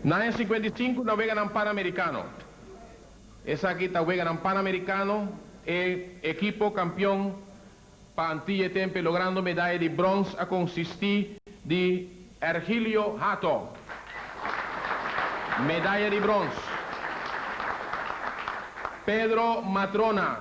Na e sikuenta i sinku na Weganan Panamerikano. Esaki ta Weganan Panamerikano e ekipo kampion pa Antia e tempe logrando medaya di brons a konsistí di Ergilio Hato, medaya di brons, Pedro Matrona,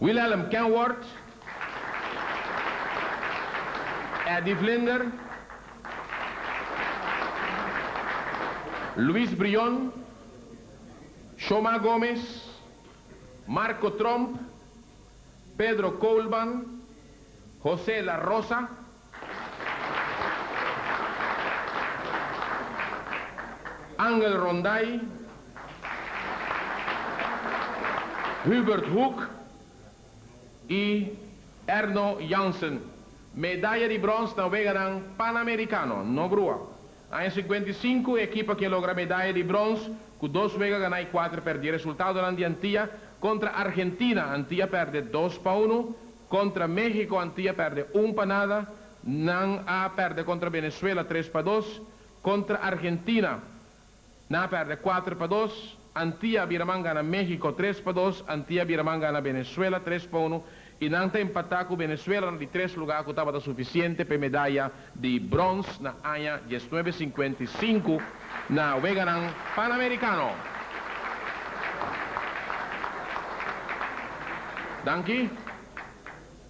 Wilhelm Kenworth, Eddy Vlinder, Luis Brion, Shoma Gomez, Marco Tromp, Pedro Koolman, Jose La Rosa, Angel Ronday, Hubert Hoek y Erno Jansen. Medaya di brons na Weganan Panamericano, no grua. Aña sikuenta i sinku e ekipo ke logra medaya di brons ku dos wega ganá i kuater pèrdí. Resultadonan di Antia kontra Argentina, Antia pèrdè dos pa unu, kontra México, Antia pèrdè un pa nada, nan a pèrdè kontra Venezuela tres pa dos, kontra Argentina, Nan a perde kuater pa dos, Antia a bira man gana Mexico tres pa dos, Antia a bira man gana Venezuela tres pa unu y nan ta empata cu Venezuela na di tres lugar cu tabata suficiente pa e medaya di bronce na aña diesnuebe sinkuenta i sinku na weganan Panamericano. Danki.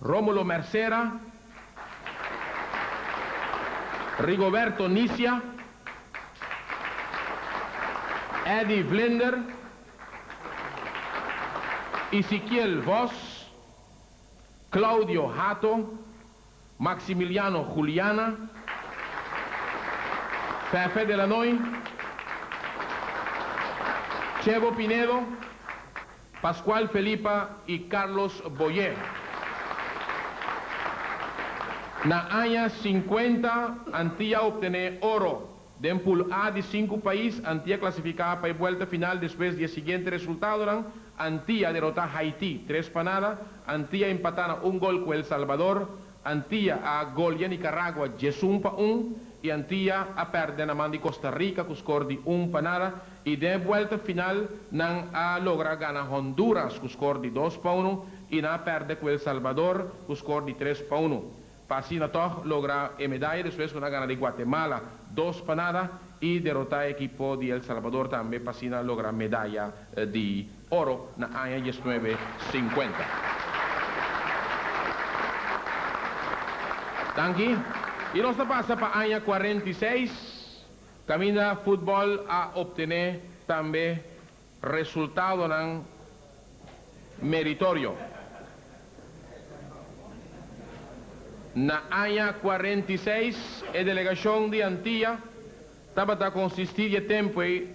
Romulo Mercera, Rigoberto Nicia, Eddy Vlinder, Isiquiel Vos, Claudio Hato, Maximiliano Juliana, Fefe Delanoy, Chebo Pinedo, Pascual Felipa y Carlos Boyé. Na aña cincuenta Antia a obtené oro. Den Pool A di sinku pais, Antia clasificá pa e buelta final despues di e siguiente resultadonan, Antia derotá Haití tres pa nada, Antia empatá na un gol cu El Salvador, Antia a golia Nicaragua djesun pa un y Antia a perde na man di Costa Rica cu score di un pa nada y den e buelta final nan a logra gana Honduras cu score di dos pa uno y nan a perde cu El Salvador cu score di tres pa uno pa asina tog logra e medaya despues cu nan a gana di Guatemala dos pa nada y derota e ekipo di El Salvador tambe pa asina logra medaya di oro na aña diesnuebe sinkuenta. Danki. I nos ta pasa pa aña kuarenta i seis, kaminda futbòl a optené tambe resultadonan meritorio. Na aña kuarenta i seis e delegashon di Antia tabata konsistí di e tempu ei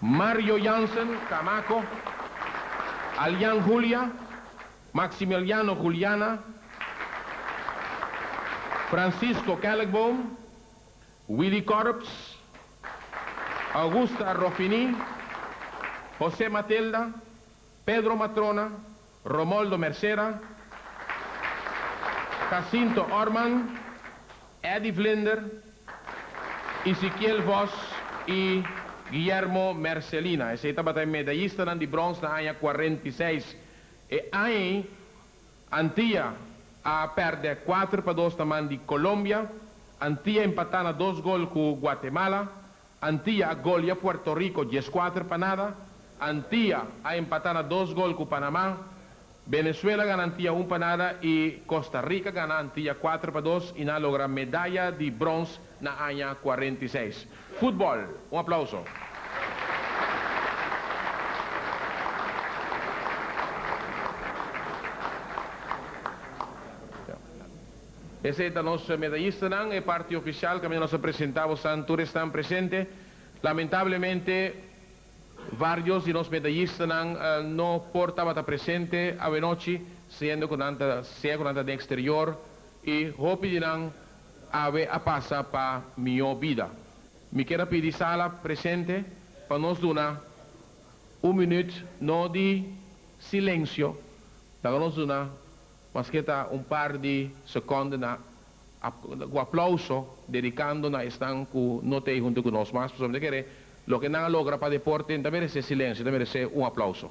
Mario Jansen, Camaco, Alian Julia, Maximiliano Juliana, Francisco Kellegboom, Willy Corps, Augusta Rofini, Jose Matilda, Pedro Matrona, Romoldo Mercera, Casinto Orman, Eddy Vlinder, Isikiel Vos y Guillermo Mercelina. Esey tabata e medayistanan di brons na aña cuarenta y seis. E aña ey Antilla a perde cuater pa dos na man di Colombia. Antilla empata na dos gol cu Guatemala. Antia a golia Puerto Rico dies kuater pa nada, Antia a empata na dos gol ku Panamá, Benezuela gana Antia un pa nada i Costa Rica gana Antia kuater pa dos i nan a logra medaya di brons na aña kuarenta i seis. Futbol! Un aplauso. Esei ta nos medayistanan, e parti ofisial kaminda nos a presentá bo san tur esnan presente. Lamentablemente varios di nos medayistanan no por tabata presente awenochi siendo ku nan ta sea ku nan ta den eksterior i hopi di nan awe a pasa pa mihó bida. Mi kier a pidi sala presente pa nos duna un minuut no di silensio laga nos duna Maske ta un par di sekonde na ku aplauso dedikando na esnan ku no ta ei huntu ku nos mas, pasobra mi ta kere loke nan a logra pa deporte no ta meresé silensio, ta meresé un aplauso.